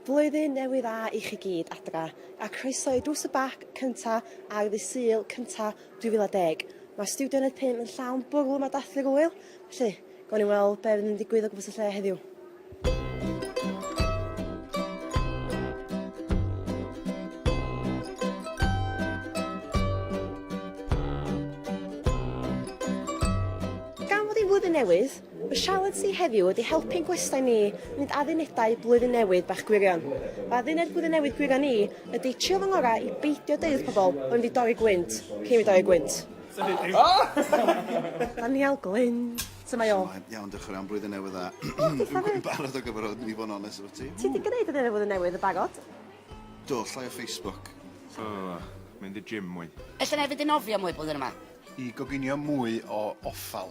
Blwyddyn Newydd Dda i chi gyd, adra, a croeso i Drws y Bac cynta ar ddydd Sul cynta 2010. Mae Studio Uned 5 yn llawn bwrw mae dathlu rwyl, felly gawn ni weld be fydd yn digwydd o gwmpas y lle heddiw. Gan fod hi'n flwyddyn newydd, Y sialens ni heddiw ydy helpu'n gwestai ni wneud addunedau Blwyddyn Newydd bach gwirion. Fy adduned Blwyddyn Newydd gwirion i ydy trio fy ngorau i beidio deud wrth pobl bod wedi dorri gwynt cyn fi dorri gwynt. Daniel Glyn, sut mae o? Su'mae? Iawn, diolch yn fawr iawn, Blwyddyn Newydd Dda. O, diolch Dafydd. Dwi'n barod ar gyfer o, i fod yn onest efo ti. Ti 'di gwneud adduned Blwyddyn Newydd yn barod? Do, llai o Facebook. O, mynd i'r gym mwy. Ella 'nai fynd i nofio mwy blwyddyn yma. I goginio mwy o offal.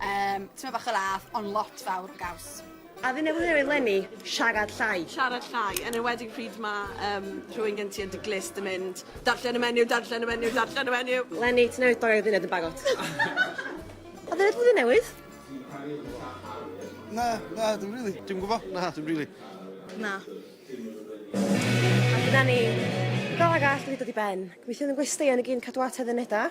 Yym, tymed bach o lath, ond lot fawr o gaws. A fi newydd newid lenni, siarad llai. Siarad llai, yn enwedig pryd mae um, rhywun gen ti yn dy glust yn mynd, darllen y menyw, darllen y menyw, darllen y menyw. Lenni, ti newydd dorri'r dduned yn barod. A dduned flwyddyn newydd? Na, na, dwi'n rili. Dwi'n gwybod, na, dwi'n rili. Na. A dyna ni. Fel arall, wedi dod i ben. Gweithio'n yn gwestiau yn y gyn cadw at heddiw neda.